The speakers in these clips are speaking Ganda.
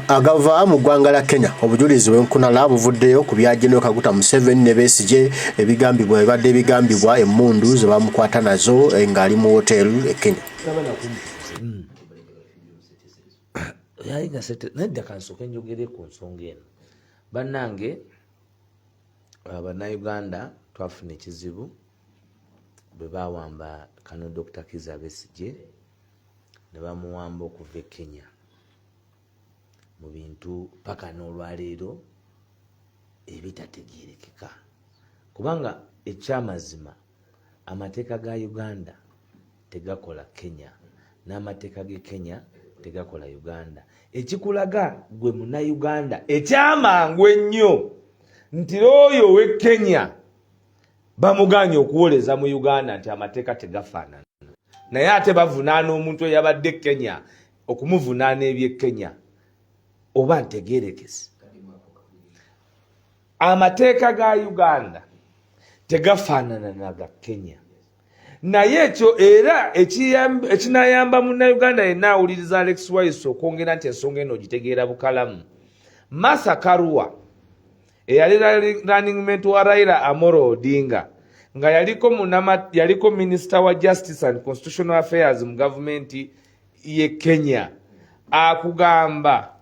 agava mu ggwanga la kenya obujulizi bwenkunala buvuddeyo ku bya genero kaguta museveni ne besigye ebigambibwa ebibadde ebigambibwa emmundu ze bamukwata nazo eh, ng'ali mu woteri e kenya hmm. nadda kansooka enjogere ku nsonga eno bannange uh, bannayuganda twafuna ekizibu bwe bawamba kano dr kiza besigye ne bamuwamba okuva e kenya mu bintu paka n'olwaleero ebitategerekeka kubanga ekyamazima amateeka ga uganda tegakola kenya n'amateeka ge kenya tegakola uganda ekikulaga gwe munauganda ekyamangu ennyo nti looyo owe kenya bamuganye okuwoleza mu uganda nti amateeka tegafaanana naye ate bavunaana omuntu eyabadde kenya okumuvunaana ebye kenya oba ntegerekesi amateeka ga uganda tegafaanana naga kenya naye ekyo era ekinayamba munauganda yenna awuliriza alex wise okwongera nti ensonga eno ogitegeera bukalamu masa karua eyali running mate wa Raila Amoro Odinga nga yaliko munama yaliko minister wa justice and constitutional affairs mu government ye Kenya akugamba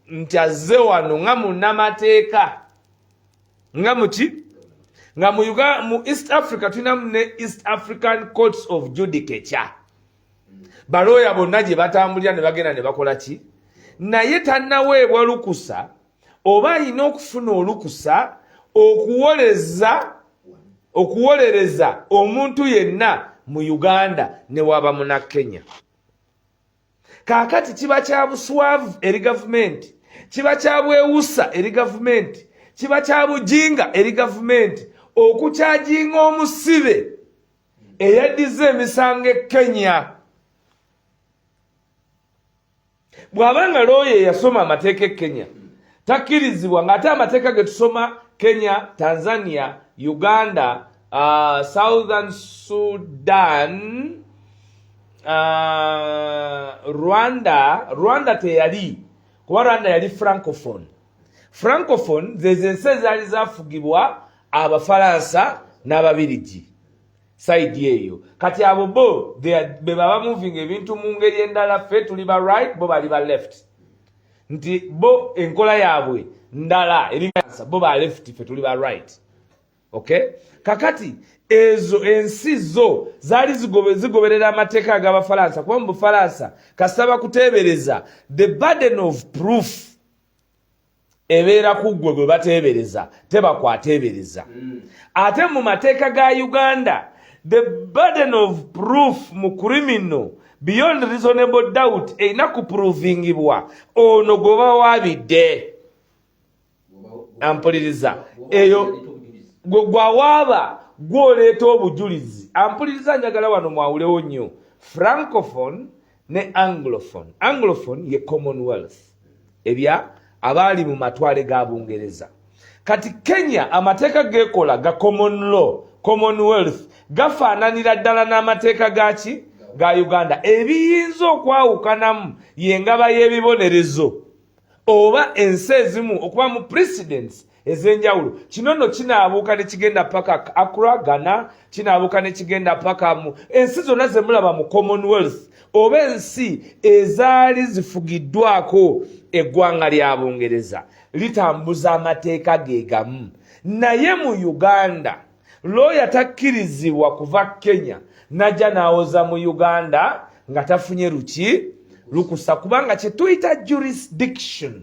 nti azze wano nga munamateeka nga muki nga mu Uganda mu East Africa tulinamu ne East African Courts of Judicature balooya bonna gye batambulira ne bagenda ne bakola ki naye tanaweebwa lukusa oba alina okufuna olukusa okuwoleza okuwolereza omuntu yenna mu uganda newaba muna kenya kaakati kiba kya buswavu eri gavumenti kiba kya bwewusa eri gavumenti kiba kya bujinga eri gavumenti okukyajinga omusibe eyaddiza emisango e kenya bw'aba nga looya eyasoma amateeka e kenya takkirizibwa ng'ate amateeka ge tusoma kenya tanzania uganda uh, southern sudan uh, rwanda rwanda teyali kuba rwanda yali francophone francophone zezo ensi ezaali zafugibwa abafalansa n'ababirigi side eyo kati abo bo bebaba moving ebintu mu ngeri endala ffe tuli ba right bo bali ba left nti bo enkola yaabwe ndala eriasa bo ba left ffe tuli ba right okay kakati ezo ensi zo zaali zigoberera amateeka agabafalansa kuba mu bufalansa kasita bakuteebereza the burden of proof ebeera ku ggwe gwe bateebereza teba kwateebereza mm. ate mu mateeka ga uganda the burden of proof mu criminal beyond reasonable doubt erina kuprovingibwa ono gwoba wabidde ampuliriza eyo gwawaaba gwoleeta obujulizi ampuliriza njagala wano mwawulewo nnyo francophone ne anglophone anglophone ye commonwealth ebya abaali mu matwale ga bungereza kati kenya amateeka gekola ga common law commonwealth gafaananira ddala n'amateeka gaki ga uganda ebiyinza okwawukanamu yengaba y'ebibonerezo oba ensi ezimu okuba mu presidents ez'enjawulo kino nno kinaabuuka ne kigenda paka akra gana kinaabuuka ne kigenda paka mu ensi zonna ze mulaba mu commonwealth oba ensi ezaali zifugiddwako eggwanga lya bungereza litambuza amateeka ge gamu naye mu uganda looya takkirizibwa kuva kenya najja n'awoza mu uganda nga tafunye luki lukusa kubanga kyetuyita jurisdiction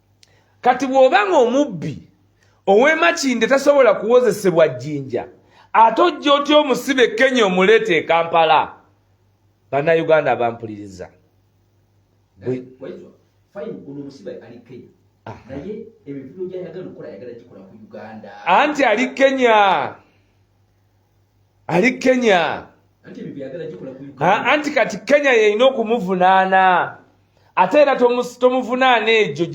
kati bw'oba ng'omubbi ow'emakinde tasobola kuwozesebwa jjinja ate ojja otya omusibe kenya omuleeta e kampala bannayuganda abampuliriza anti ali kenya ali kenya anti kati kenya yeyina okumuvunaana ate era tomuvunaana egyo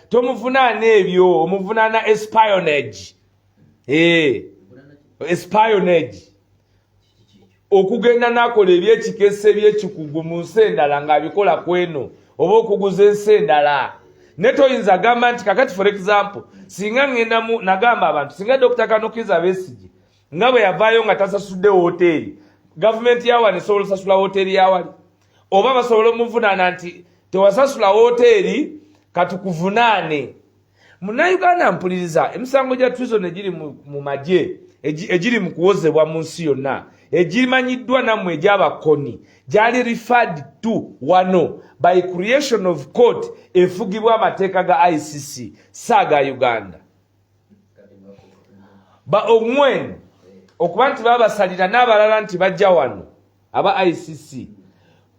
tomuvunaana ebyo omuvunaana espionage eh, espionage okugenda nakola ebyekikesa ebyekikugu mu nsi endala ngaabikola kweno oba okuguza ensi endala naye toyinza agamba nti kakati for example singa ŋŋenda mu nagamba abantu singa dokita kanukiza besigye nga bwe yavaayo nga tasasudde wooteeri gavumenti yawano esobola osasula wooteeri yawali oba basobola omuvunaana nti tewasasula wooteeri katukuvunaane munauganda mpuliriza emisango gya trison egiri mu magye egiri mu kuwozebwa mu nsi yonna egimanyiddwa nammwe egyabakoni gyali referred to wano by creation of court efugibwa amateeka ga icc saaga uganda ba omwen okuba nti babasalira n'abalala nti bajja wano aba icc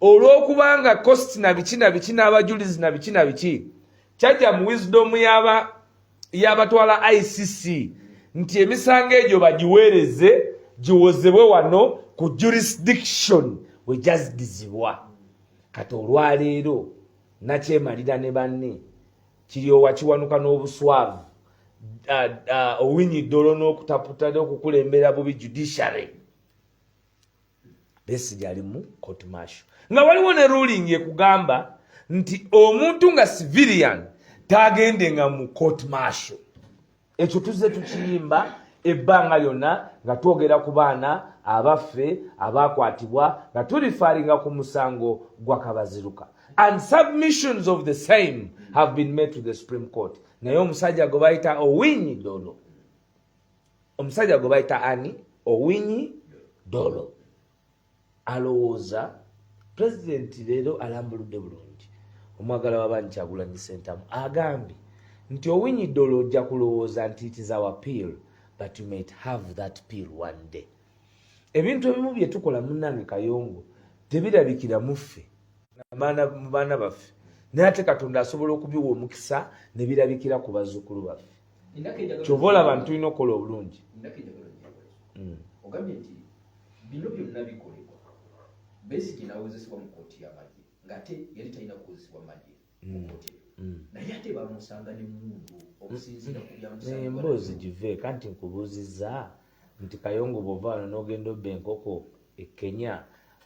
olw'okubanga cost na biki na biki n'abajulizi na biki na biki kyajja mu wisdom yaba yabatwala icc nti emisango egyo bagiweereze giwozebwe wano ku jurisdiction wegyazidizibwa kati olwaleero nakyemalira ne banne kiryowa kiwanuka n'obuswavu owinyi dolo n'okutaputa okukulembera bubi judiciary Besigye ali mu court martial nga waliwo ne ruling ekugamba nti omuntu nga civilian tagende nga mu court martial ekyo tuzze tukiyimba ebbanga lyonna nga twogera ku baana abaffe abaakwatibwa nga tulifaringa ku musango gwa kabaziruka and submissions of the same have been made to the supreme court naye omusajja gwe bayita owinyi dolo omusajja gwe bayita ani owinyi dolo alowooza pulezidenti leero alambuludde bulungi omwagala wabangi kyagulanyi sentamu agambye nti owinyi dolo ojja kulowooza nti itiza wa peel but you might have that peel one day ebintu ebimu bye tukola munange kayongo tebirabikira muffe mu baana baffe naye ate katonda asobola okubiwa omukisa ne birabikira ku bazzukulu baffe kyova olaba nti tulina okukola obulungi hmm. ogambye nti bino byonna bikolebwa besigi nawozesebwa mu kooti yamagye ngaate yali talina kuwozesebwa magye mu hmm. kooti hmm. naye ate bamusanga ne mundu okusinziira ku byamusemboozi give kanti nkubuuziza nti kayongo bwova wano n'ogenda obba enkoko e kenya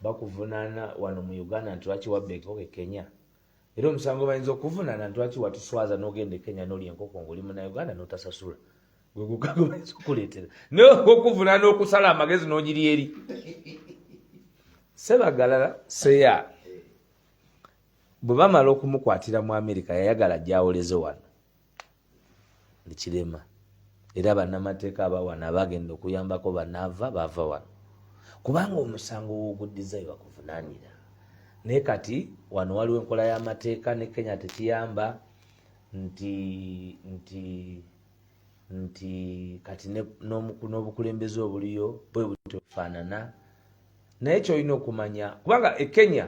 bakuvunaana wano mu uganda nti lwaki wabba enkoko e kenya era omusango bayinza okuvunana ntwaki watuswaza nogenda e kenya nolya enkoko ngaoli munauganda notasasula gwegugaga bayinza okukuleetera naye okuvunana okusala amagezi nogiri eri sebagalala seya bwe bamala okumukwatira mu amerika yayagala gyawoleze wano ekirema era bannamateeka abawano abagenda okuyambako banaava baava wano kubanga omusango woguddiza webakuvunanira naye kati wano waliwo enkola y'amateeka ne kenya tekiyamba nti nti nti kati n'obukulembeze obuliyo bwe butofaanana naye kyolina okumanya kubanga e kenya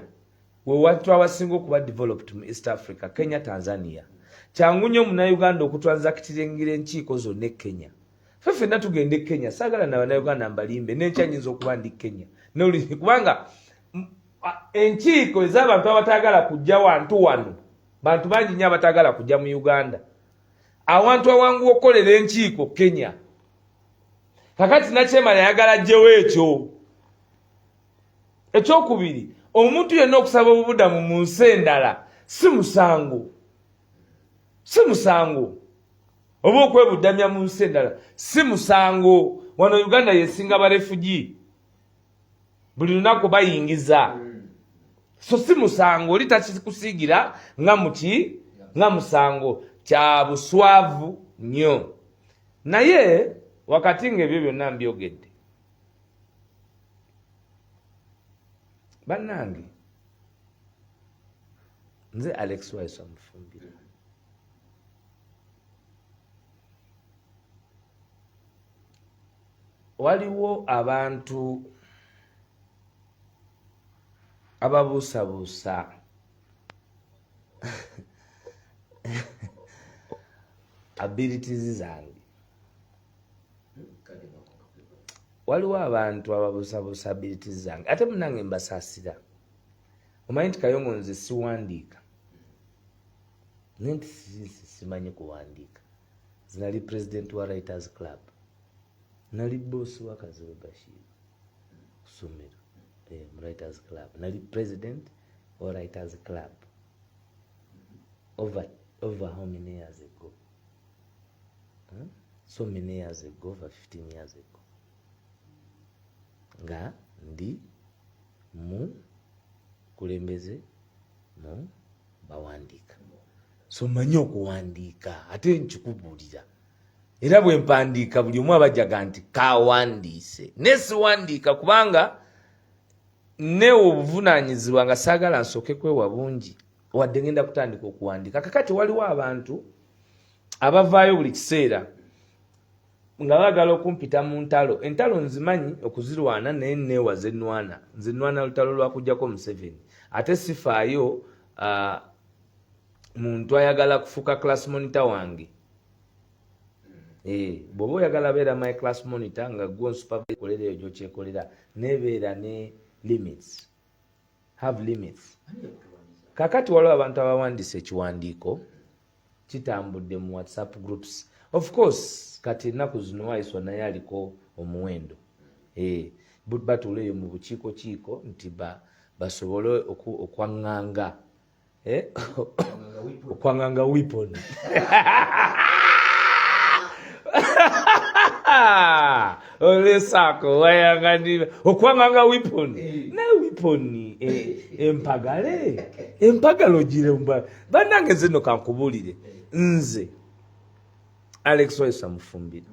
wewatu abasinga okuba developed mu east africa kenya tanzania kyangu nyo munauganda okutransakitingira enkiiko zonna e kenya fe fenna tugenda e kenya saagala na banauganda mbalimbe nenkya nyinza okuba ndi kenya kubanga enkiiko ezabantu abatagala kujja wantu wano bantu bangi nyo abatagala kujja mu uganda awantu awangu okukolera enkiiko kenya kakati nakyemala yagala jjewo ekyo ekyokubiri omuntu yenna okusaba obubudamu mu nsi endala si musango si musango oba okwebudamya mu nsi endala si musango wano uganda yesinga barefugi buli lunaku bayingiza so si musango oli takikusiigira nga muki nga musango kya buswavu nnyo naye wakati nga ebyo byonna mbyogedde bannange nze alex waiso amufumbira waliwo abantu ababuusabuusa abilities zange waliwo abantu ababusabusa abilities zange ate munange mbasasira omanyi nti kayongo nze siwandiika naye nti simanyi kuwandiika zinali president wa writers club nali bosi wakaziwe bashir kusomero eh, writers club nali president or writers club over over how many years ago hmm? so many years ago over 15 years ago nga ndi mu kulembeze mu bawandiika so manyi okuwandiika ate nkikubuulira era bwe mpandiika buli omu abajaga nti kawandiise naye siwandiika kubanga ne obuvunaanyizibwa nga saagala nsooke kwewa bungi wadde ngenda kutandika okuwandiika kakati waliwo abantu abavaayo buli kiseera nga baagala okumpita mu ntalo entalo nzimanyi okuzirwana naye neewa zenwana nzenwana lutalo lwakujjako museveni ate sifaayo uh, muntu ayagala kufuuka class monitor wange Eh, bw'oba oyagala beera my class monitor nga gwo nsupervise kolera eyo gyokyekolera nebeera ne limits have limits kakati waliwo abantu abawandisa ekiwandiiko kitambudde mu whatsapp groups of course kati ennaku zino waiswa naye aliko omuwendo eh, batuula eyo mu bukiiko kiiko nti basobole okwaŋŋanga eh? ukwang'anga weapon ole sako wayang'anira ukwang'anga weapon eh. na weapon eh, empagale empagalo gire mba banange zino kankubulire nze alex wayisa mufumbira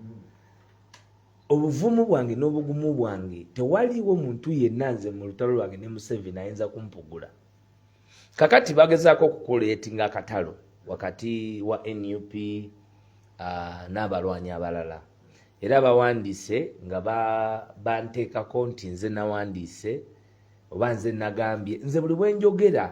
obuvumu bwange n'obugumu bwange tewaliwo muntu yenna nze mu lutalo lwange ne museveni ayinza kumpugula kakati bagezaako okukuleetinga akatalo wakati wa nup uh, n'abalwanyi abalala era bawandiise nga banteekako nti nze nawandiise oba nze nagambye nze buli bwenjogera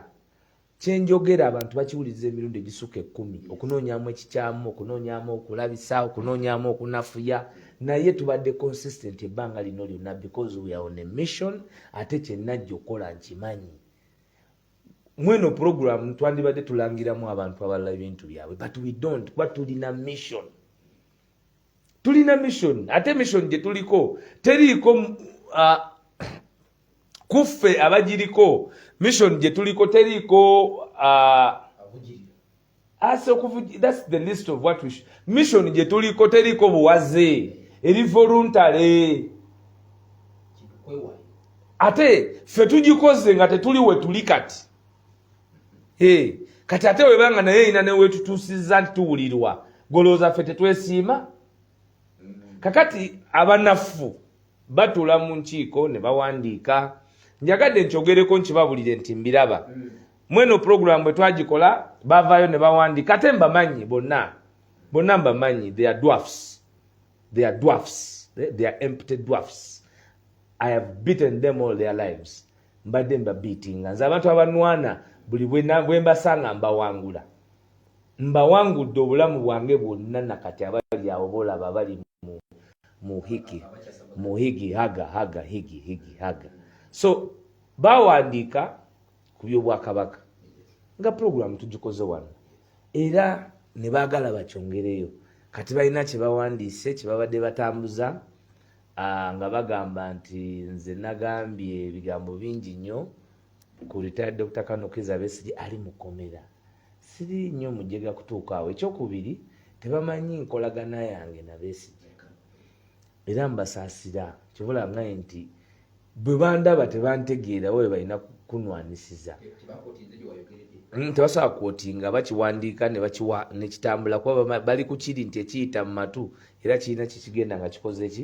kyenjogera abantu bakiwuliriza emirundi egisuka ekumi okunoonyamu ekikyamu okunoonyamu okulabisa okunoonyamu okunafuya naye tubadde consistent ebbanga lino lyonna because we are on a mission ate kyenajja okukola nkimanyi mweno program twandibadde tulangiramu abantu abalala ebintu byabwe but we don't kuba tulina mission tulina mission ate mission gye tuliko teriiko uh, kuffe abagiriko mission gye tuliko teriiko uh, ase okuvuj that's the list of what we should. mission gye tuliko teriko buwaze eri voluntary ate ffe tugikoze nga tetuli wetuli kati hey. kati ate webanga naye erina newetutuusiza nti tuwulirwa golowooza ffe tetwesiima mm. kakati abanafu batula mu nkiiko ne bawandiika njagadde nkyogereko nkibabulire nti mbiraba mm. mweno program bwe twagikola bavaayo ne bawandika ate mbamanyi bonna bonna mbamanyi they are dwarfs they are dwarfs they, they are empty dwarfs i have beaten them all their lives mbadde mbabiitinga nze abantu abanwana buli bwe mbasanga mbawangula mbawangudde obulamu bwange bwonna nakati abali awo bolaba abali muhigi muhigi haga haga higi higi haga so bawandiika ku byobwakabaka nga pulogulaamu tugikoze wano era ne baagala bakyongereyo kati balina kye bawandiise kye babadde batambuza nga bagamba nti nze nagambye ebigambo bingi nnyo ku retired dr kanokeza besigi ali mukomera siri nnyo mujega kutuuka awo ekyokubiri tebamanyi nkolagana yange nabesigi era mbasaasira kyobola ngaye nti bwe bandaba tebantegeera oba bebalina kunwanisiza mm, tebasobola kwoti nga bakiwandiika nebakiwa nekitambula kuba bali kukiri nti ekiyita mu matu era kirina kikigenda nga kikoze ki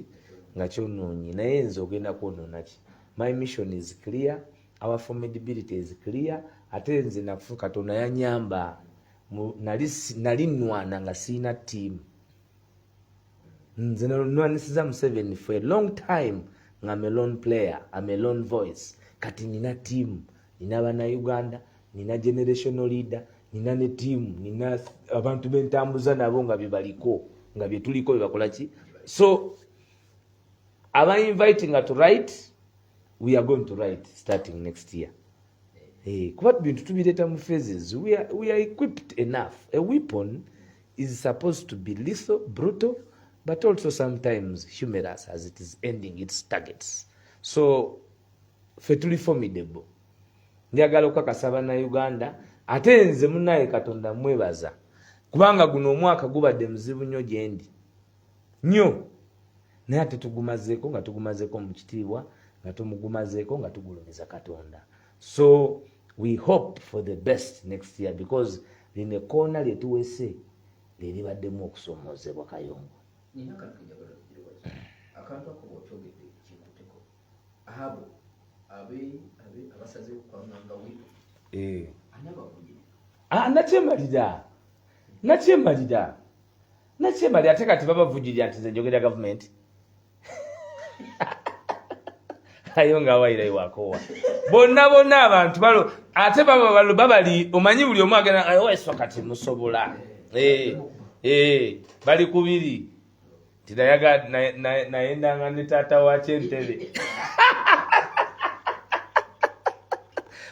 nga kyonoonyi naye nze ogenda kwonoonaki my mission is clear our formidability is clear ate nze nafu katonda yanyamba nali nwana nga siina tiimu nze nwanisiza museveni for a long time nga melon player a melon voice kati nina tiamu nina banauganda nina generational leader nina ne tiamu nina abantu bentambuza nabo nga byebaliko nga byetuliko byebakolaki so aba inviting to write we are going to write starting next year hey, eh, kuba bintu tubireeta mu phases we are, we are equipped enough a weapon is supposed to be lethal, brutal, but also sometimes humorous as it is ending its targets. So, fe tuli formidable. Njagala okukakasa bannayuganda ate nze munaye Katonda mwebaza kubanga guno omwaka gubadde muzibu nnyo gyendi nnyo naye ate tugumazeeko nga tugumazeeko mu kitiibwa nga tumugumazeeko nga tugulumiza Katonda. so we hope for the best next year because lino ekoona lyetuwese lyeribaddemu okusomoozebwa kayongo akantu ako bwokyogedde kinkuteko abo abasaze okwanganga wino eh. ani abavunye ah, nakyemalira nakyemalira nakyemalira ate kati babavujirira nti nze njogera gavumenti ayo nga awayira iwakowa bonna bonna abantu balo ate baba balo babali omanyi buli omu agenda ayoweso oh, kati musobola eh, eh, bali kubiri tinayaga nayendanga ne taata wakyentebe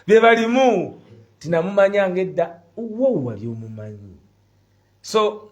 byebalimu tinamumanyanga edda wowali omumanyi so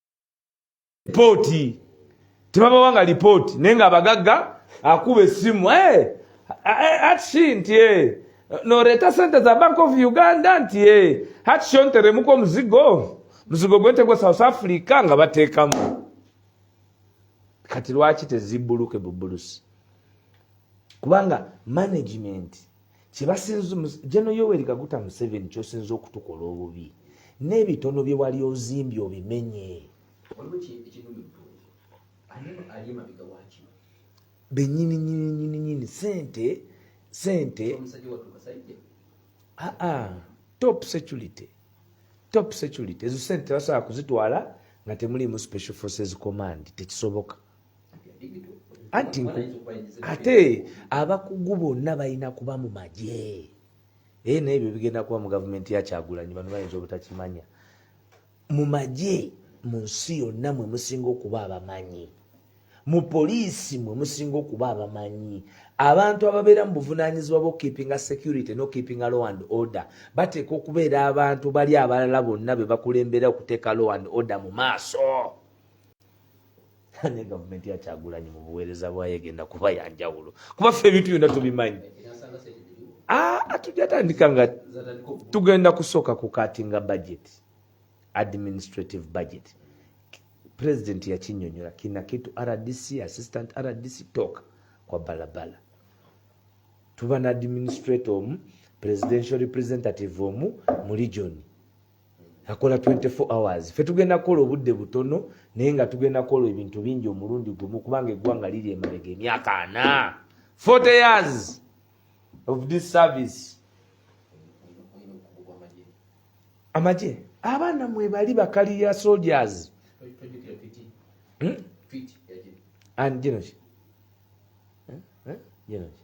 lipooti tebabawa nga lipooti naye nga abagagga akuba essimu eh, eh, atshi nti eh, noreeta sente za bank of uganda nti atshi onteremuko omuzigo muzigo gwente gwa south africa nga bateekamu kati lwaki tezibbuluke bubulusi kubanga management kyebasinza jeno yoweri kaguta museveni kyosinza okutukola obubi n'ebitono bye wali ozimbye obimenye benyini nyini nyini nyini sente sente ah, ah, top security top security ezo sente tebasobola kuzitwala nga temuliimu special forces command tekisoboka anti ate abakugu bonna balina kuba mu magye naye eh, naebyo bigenda kuba mu gavumenti yakyagulanyi bano bayinza obutakimanya mu magye mu nsi yonna mwe musinga okuba abamanyi mu poliisi mwe musinga okuba abamanyi abantu ababeera mu buvunanyizibwa bwokukipinga security nokukipinga law and order bateeka okubeera abantu bali abalala bonna bebakulembera okuteeka law and order mu maaso ne gavumenti ya kyagulanyi mu buweereza bwayo egenda kuba ya njawulo kuba ffe ebintu byonna tubimanyi ah, tujatandika nga tugenda kusooka ku katinga budget administrative budget president yakinyonyola kinakitu rdc assistant rdc toka kwa balabala tuba na administrator omu presidential representative omu mu region akola 24 hours fe tugenda kukola obudde butono naye nga tugenda kukola ebintu bingi omulundi gumu kubanga eggwanga liri emabega emyaka ana 40 years of this service amagye abaana mwebali bakaliya soldiers hmm? and genoki genoki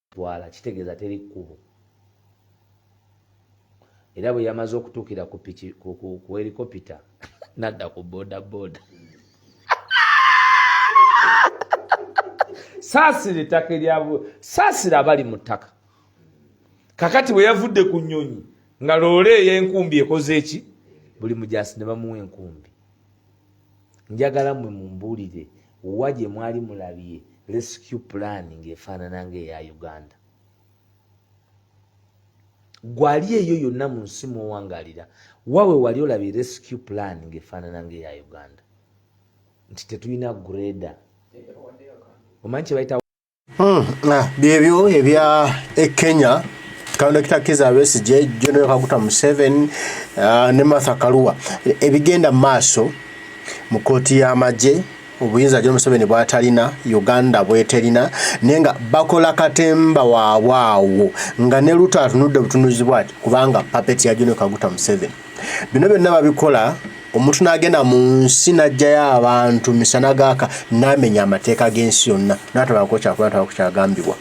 twala kitegeeza teri kkubo era bwe yamaze okutuukira ku piki ku helikopita nadda ku bodaboda saasira ettaka eryabwe saasira abali mu ttaka kakati bwe yavudde ku nnyonyi nga loole eyenkumbi ekoze eki buli mujasi ne bamuwa enkumbi njagala mwe mumbuulire wa gye mwali mulabye rescue plan ng'efaanana ng'eya uganda gwali eyo yonna mu nsi mwowangaalira wawe wali olabye rescue plan ng'efaanana ng'eya uganda nti tetulina greda omanyi kyebayita Hmm, ah, byebyo ebya e Kenya kaunda kitakiza Besigye General Kaguta Museveni ah, ne Martha Karua ebigenda maaso mu kkooti y'amagye obuyinza John Museveni bwatalina Uganda bweterina naye nga bakola katemba waabwe awo nga ne luto atunudde butunuzi bwati kubanga papeti ya John Kaguta Museveni bino byonna babikola omuntu n'agenda mu nsi n'ajjayo abantu misana gaaka n'amenya amateeka g'ensi yonna n'atabako kyakola atabako kyagambibwa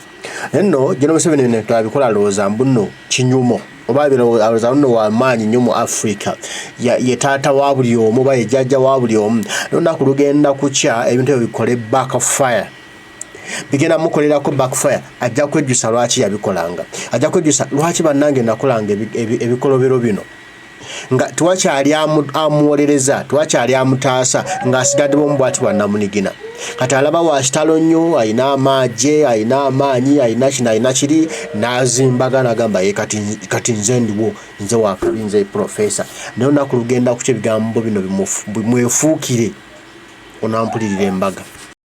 naye nno geno museveni bino twabikola alowooza mbu nno kinyumo oba alowooza nno wamaanyi nnyo mu africa ye taata wa buli omu oba ye jjajja wa buli omu nolunaku lugenda kukya ebintu ebyo bikole back fire bigenda mukolerako backfire ajja kwejjusa lwaki yabikolanga ajja kwejjusa lwaki bannange nakolanga ebikolobero bino nga tewakyali amuwolereza tewakyali amutaasa ng'asigadde bomu bwati bwannamunigina kati alaba wakitalo nnyo alina amaagye alina amaanyi alina kino alina kiri n'azimbaga nagamba ye kati nze ndiwo nze wakabi nze profesa naye olunaku lugenda kukyo ebigambo bino bimwefuukire onampulirira embaga